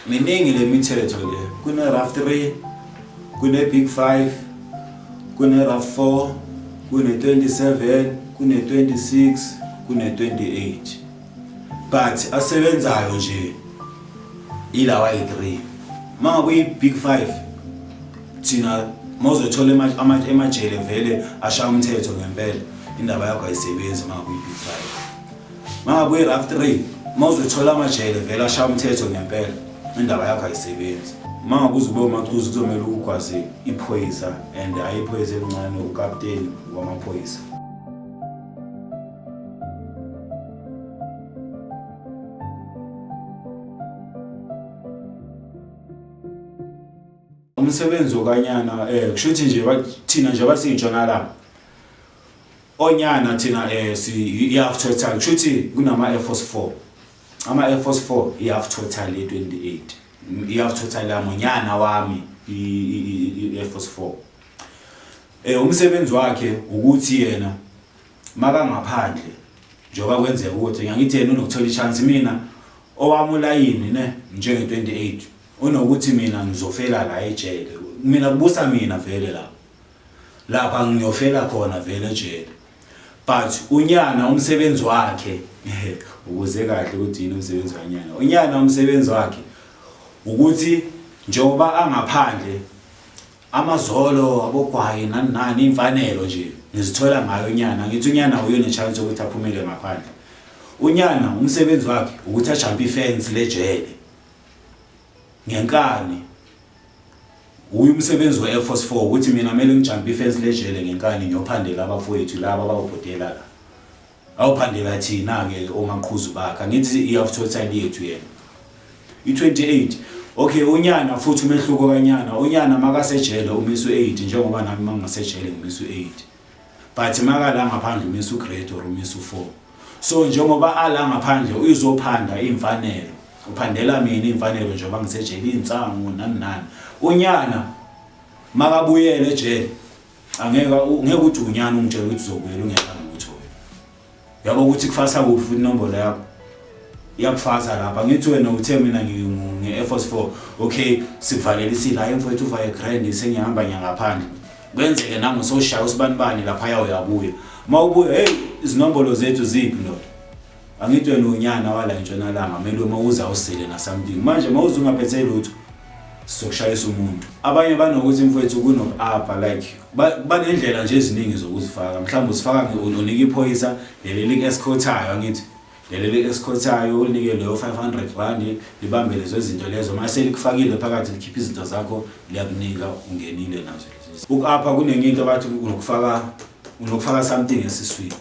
Miningi le mithetho le, kune-rough three, kune-big five, kune-rough four, kune-27, kune-26, kune-28 but asebenzayo nje ilawa yi-three. Uma ngabe uyi-big five thina mawuzothola emajele vele ashaya umthetho ngempela indaba yakho ayisebenzi uma ngabe uyi-big five. Mama buye rough 3 mawuzothola amajele vele ashaya umthetho ngempela indaba yakho ayisebenzi. Mama kuze ube umacuzi kuzomela ukugwaze iphoyisa and hayi iphoyisa elincane ukapteni wamaphoyisa. Umsebenzi okanyana eh kushuthi nje bathina nje basintshonalanga Onyana thina eh si i half total kushuthi kunama Air Force 4. Ama Air Force 4 i half total ye 28. I half total yami unyana wami i Air Force 4. Eh umsebenzi wakhe ukuthi yena makangaphandle njengoba kwenzeka ukuthi ngiyangithi yena unokuthola ichance mina owami ulayini ne njenge 28 unokuthi mina ngizofela la ejele mina kubusa mina vele la Lapha ngiyofela khona vele ejele. But unyana umsebenzi wakhe ukuze kahle ukuthi yini umsebenzi wanyana. Unyana umsebenzi wakhe ukuthi njengoba angaphandle amazolo abogwaye nani nani imfanelo nje ngizithola ngayo unyana ngithi unyana uyo nechance ukuthi aphumele ngaphandle unyana umsebenzi wakhe ukuthi ajampe ifence lejele ngenkani Wuye umsebenzi we Airforce four ukuthi mina mele ngijampe ifence lejele ngenkani ngiyophandela abafowethu laba abawubhodela la. Awuphandela thina ke omaqhuzu bakhe angithi i after time yethu yena. I 28 Okay unyana futhi umehluko kanyana unyana makasejele umisu 8 njengoba nami mangasejele ngimiswe 8. But makala ngaphandle umisa ugrade or umisa u-four. So njengoba ala ngaphandle uzophanda iy'mfanelo. Uphandela mina iy'mfanelo njengoba ngisejele iy'nsangu nani nani. Unyana makabuyele ejele angeke ngeke uthi unyana ungitshela ukuthi uzobuyela ungekho. yabo ukuthi kufasa kuphi futhi inombolo yakho iyakufasa lapha ngithi wena uthe mina ngi-air force four okay sikuvalela isile hayi mfowethu uvaye grand sengihamba ngiyangaphandle kwenzeke nami usoshaya usibanibani laphaya uyabuya uma ubuya heyi izinombolo zethu ziphi ndoda angithi wena unyana wala entshonalanga kumele uma uza usile nasamdingi manje uma uze ungaphethe lutho sokushayisa umuntu abanye banokuthi mfowethu kunoku-apha like banendlela nje eziningi zokuzifaka mhlawumbe uzifaka unika iphoyisa leli liku-escothayo angithi leli liku-escothayo ulinike leyo 500 rand libambe lezo zinto lezo uma selikufakile phakathi likhiphe izinto zakho liyakunika ungenile nazo uku-apha kunenye into abathi unokufaka unokufaka something esiswini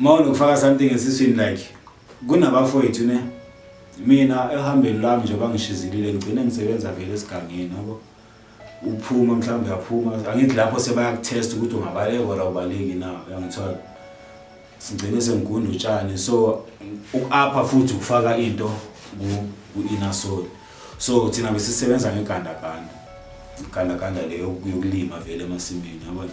Uma unokufaka something esiswini like kunabafowethu ne mina ehambeni lami nje bangishizilile ngigcine ngisebenza vele esigangeni yabo uphuma mhlawumbe uyaphuma angithi lapho sebayakuthesta ukuthi ungabaleka or awubaleki na uyangithola sigcine sengigunda utshani so uku-apha futhi ukufaka into ku-inner soul so thina besisebenza ngegandaganda igandaganda leyo yokulima vele emasimini yabona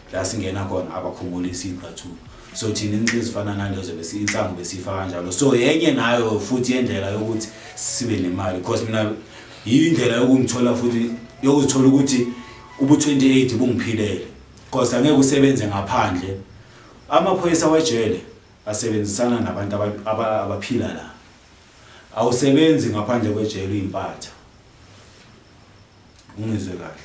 la singena khona abakhumulisi iqathulo so thina inxa ezifana nalezo bese insangu besifa kanjalo so yenye nayo futhi yendlela yokuthi sibe nemali because mina yindlela yokungithola futhi yokuzithola ukuthi ubu 28 bungiphilele because angeke usebenze ngaphandle amaphoyisa wejele asebenzisana nabantu abaphila la awusebenzi ngaphandle kwejele uyimpatha Ungizwe kahle.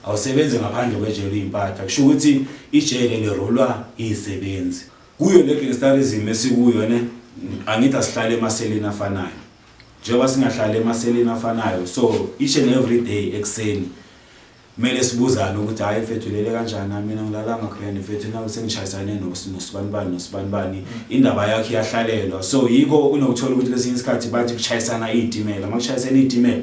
Awusebenzi ngaphandle kwejele uyimpatha. Kusho ukuthi ijele lirolwa izisebenzi. Kuyo le gangsterism esikuyo ne angithi asihlale emaseleni afanayo. Njengoba singahlali emaseleni afanayo so each and every day ekuseni kumele sibuzane ukuthi hayi mfethu ulele kanjani hayi mina ngilalanga grand mfethu naku sengishayisane nosibanibani nosibanibani indaba yakho iyahlalelwa so yikho unokuthola ukuthi kwesinye isikhathi bathi kushayisana iy'timela uma kushayisana iy'timela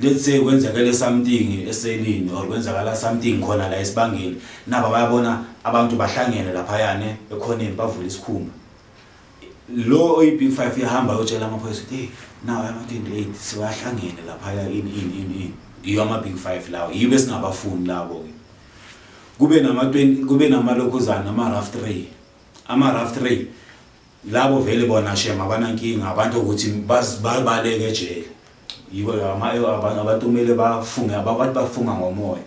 let's say kwenzekele something eselini or kwenzakala something khona la esibangeni naba bayabona abantu bahlangene laphayane ekhoneni bavula isikhumba lo oyi-big five yahamba yotshela amaphoyisa ukuthi hey nawo ama-28 siwahlangene laphaya ini ini ini ini yiyo ama-big five lawo yiyo besingabafuni labo-ke kube nama-20 kube namalokhuzana ama-rough tray ama-rough tray Labo vele bona shem abanankinga abantu ukuthi bazibaleke ejele yiko abantu kumele bafunge abantu bafunga ngomoya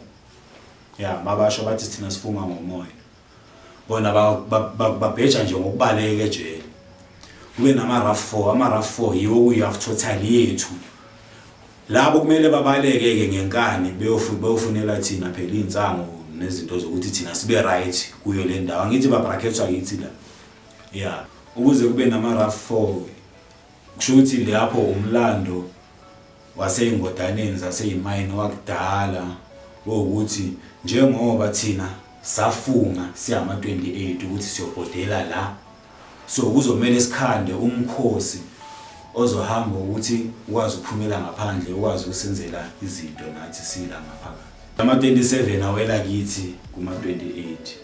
ya mabasho bathi sithina sifunga ngomoya bona babheja nje ngokubaleka ejele kube nama-rough four ama-rough four yiwo kuyi-half total yethu labo kumele babaleke-ke ngenkani beyofunela thina phela iy'nsango nezinto zokuthi thina sibe right kuyo le ndawo angithi babrackethwa yithi la Yeah ukuze kube nama rough four kusho ukuthi lapho umlando waseyingodaneni zaseyimayini wakudala wokuthi njengoba thina safunga siyama 28 ukuthi siyobhodela la so kuzomela sikhande umkhosi ozohamba ukuthi ukwazi ukuphumela ngaphandle ukwazi ukusenzela izinto nathi sila ngaphakathi ama 27 awela kithi kuma 28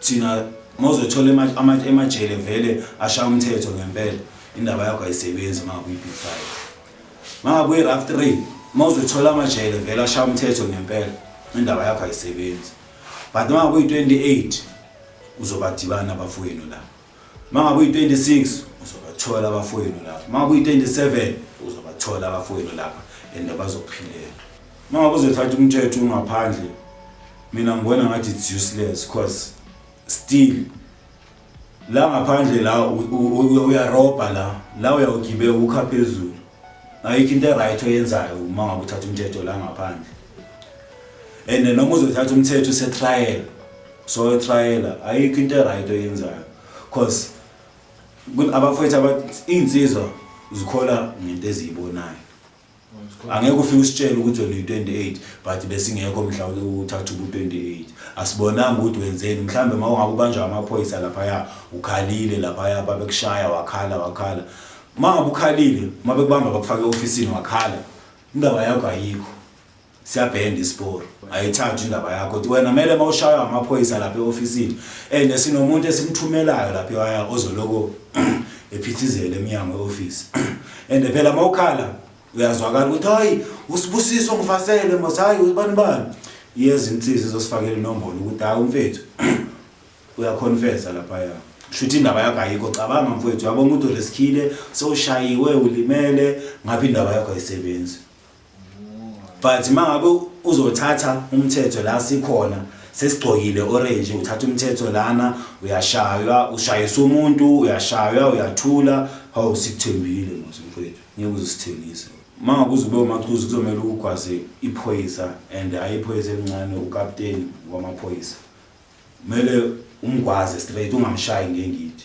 Thina mawuzothola ema ama emajele vele ashaya umthetho ngempela indaba yakho ayisebenzi mangabe uyi big five. Mangabe uyi rough three mawuzothola amajele vele ashaya umthetho ngempela indaba yakho ayisebenzi. But mangabe uyi 28 uzobadibana abafowenu la. Mangabe uyi-26 uzobathola abafowenu lapha. Mangabe uyi-27 uzobathola abafowenu lapha and bazokuphilela. Mangabe uzothatha umthetho ungaphandle mina ngibona ngathi it's useless because still la ngaphandle la uyarobha la la uyawugibeka ukha phezulu ayikho into eright oyenzayo uma ngabe uthatha umthetho la ngaphandle and noma uzothatha umthetho usetrial so etrayela ayikho into eright oyenzayo cause abafowethu abathi iy'nsizwa zikhola ngento eziyibonayo angeke ufike usitshele ukuthi wena uyi-28 but besingekho mhla uthatha ubu-28 asibonanga ukuthi wenzeni mhlawumbe uma ungabe ubanjwa amaphoyisa laphaya ukhalile laphaya babekushaya wakhala wakhala uma ngabe ukhalile uma bekubamba bakufake e-ofisini wakhala indaba yakho ayikho Siyabhenda isiporo ayithathwa indaba yakho ukuthi wena mele mawushaywa amaphoyisa lapha eofisini and sinomuntu esimthumelayo lapha ewaya ozoloko ephithizela emnyango weoffice and phela mawukhala uyazwakala ukuthi hayi usibusiso ngifasele mos hayi ubani bani yeza insizwa izosifakela inombolo ukuthi hayi umfethu uyaconfessa lapha ya shuthi indaba yakho ayikho cabanga mfowethu uyabona ukuthi ulesikhile sowushayiwe ulimele ngapha indaba yakho ayisebenzi but uma ngabe uzothatha umthetho la sikhona sesigcokile orange uthatha umthetho lana uyashaywa ushayisa umuntu uyashaywa uyathula hawu sikuthembile mose mfowethu ngeke uzisithengise uma ngabe uzube umachuzi kuzomele ukugwaze iphoyisa and hhayi iphoyisa elincane ukapteni wamaphoyisa kumele umgwaze straight ungamshayi ngengidi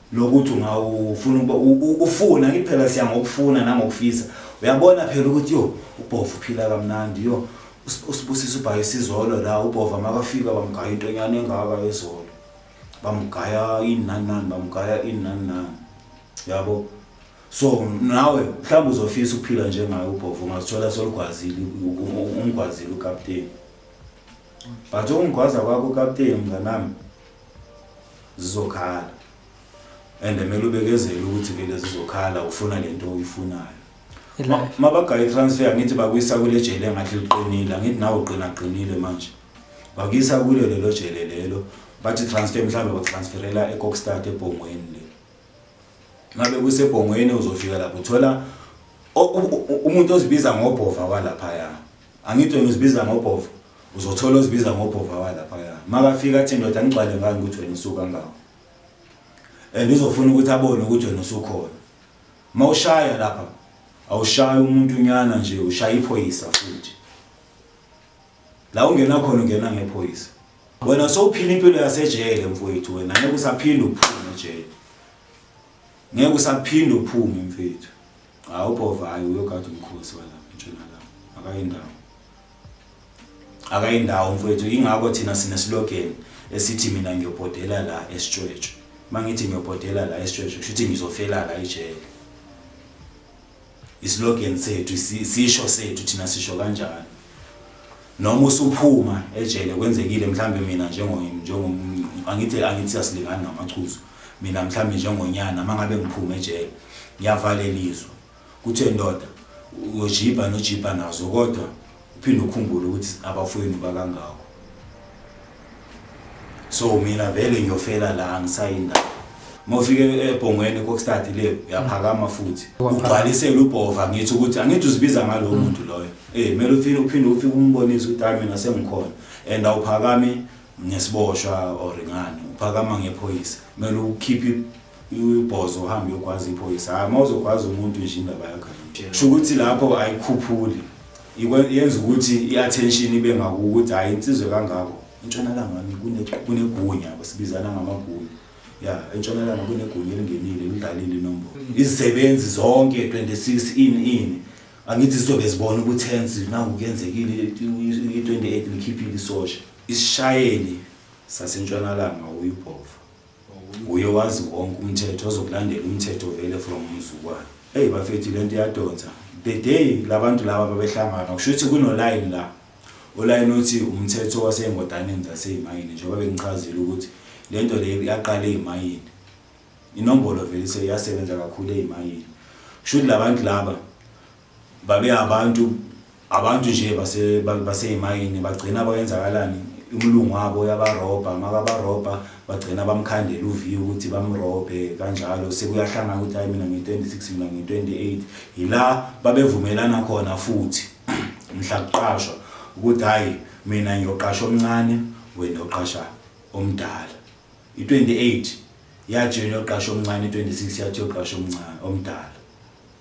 lokuthi ungawufuna ukuba ufuna ngithi phela siya ngokufuna nangokufisa uyabona phela ukuthi yo ubhova uphila kamnandi yo usibusisa ubhaye isizolo la ubhova makafika bamgaya intonyana engaka yezolo bamgaya ini nani nani bamgaya ini nani nani yabo so nawe mhlawumbe uzofisa ukuphila njengayo ubhova ungazithola solugwazile umgwazile ukapteni but ukungigwaza kwakho ukapteni mnganami zizokhala and kumele ubekezele ukuthi vele zizokhala ufuna lento oyifunayo mabagaye transfer ngithi bakuyisa kule jele engathi liqinile angithi nawe uqina qinile manje bakuyisa kulo lelo jele lelo bathi transfer mhlawumbe bakutransferela ecockstart ebhongweni le ngabe kusebhongweni uzofika lapho uthola umuntu ozibiza ngobhova walaphaya Angithi wena uzibiza ngobhova uzothola ozibiza ngobhova walaphaya makafika athi ndoda ngigcwale ngani ukuthi wena usuka ngawo and uzofuna ukuthi abone ukuthi wena usukhona uma ushaya lapha awushayi umuntu nyana nje ushaya iphoyisa futhi la ungena khona ungena ngephoyisa wena sowuphila impilo yasejele mfowethu wena ngeke usaphinde uphume ejele Ngeke usaphinde uphume mfethu. Cha uBhovayo uyogada umkhosi wala entshonalanga. Akayindawo. Akayindawo mfethu ingakho thina sine slogan esithi mina ngiyobhodela la esitshwetshwe. Mangithi ngiyobhodela la esitshwetshwe kusho ukuthi ngizofela la ejele. Islogan sethu, isisho sethu thina sisho kanjalo. Noma usuphuma ejele kwenzekile mhlambe mina njengo njengo angithi angithi siyasilingana ngamachuzo. Mina mhlambe njengonyana mangabe ngiphuma ejele ngiyavalelizwa. Kuthe ndoda uyojibha nojibha nazo kodwa uphinde ukhumbule ukuthi abafowenu bakangako so mina vele ngiyofela la ngisayindawo mofike ebhongweni kokstart le uyaphakama futhi ugcwalisele ubhova ngithi ukuthi angithi uzibiza ngalo mm. muntu loyo eh kumele uphinde uphinde ufike umbonise ukuthi hayi mina sengikhona and awuphakami ngesiboshwa or ngani uphakama ngephoyisa kumele ukhiphe Uyibhozo uhamba uyogwaza iphoyisa. Hayi uma uzogwaza umuntu nje indaba yakho ayikho. Sho ukuthi lapho ayikhuphuli. Ikwe- Yenza ukuthi i-attention ibe ngakuwe ukuthi hhayi insizwe kangako. Entshonalanga wami kune- kunegunya yabo sibizana ngamagunya. Ya entshonalanga kunegunya elingenile lidlalile inombolo. Izisebenzi zonke 26 ini ini. Angithi zizobe zibona ukuthi hence naku kuyenzekile i-28 likhiphile isosha. Isishayeli sasentshonalanga uyibhovu. Nguye owazi wonke umthetho ozokulandela umthetho vele from umzukwana. Ey bafethu lento iyadonsa. The day labantu laba babehlangana kushuthi kuno line la. Uline uthi umthetho waseyngodaneni zaseymayini njengoba bengichazile ukuthi lento le yaqala eymayini. Inombolo vele iyasebenza kakhulu eymayini. Kushuthi labantu laba. Babe abantu abantu nje base baseyimayini bagcina bayenzakalani umlungu wabo uyabarobha makabarobha bagcina bamkhandela uviyo ukuthi bamrobhe kanjalo sekuyahlangana ukuthi hayi mina ngi-26 mina ngi-28 yila babevumelana khona futhi mhla kuqashwa ukuthi hayi mina ngiyoqasha omncane wena uqasha omdala i-28 yathi yona yoqasha omncane i-26 yathi yoqasha omncane omdala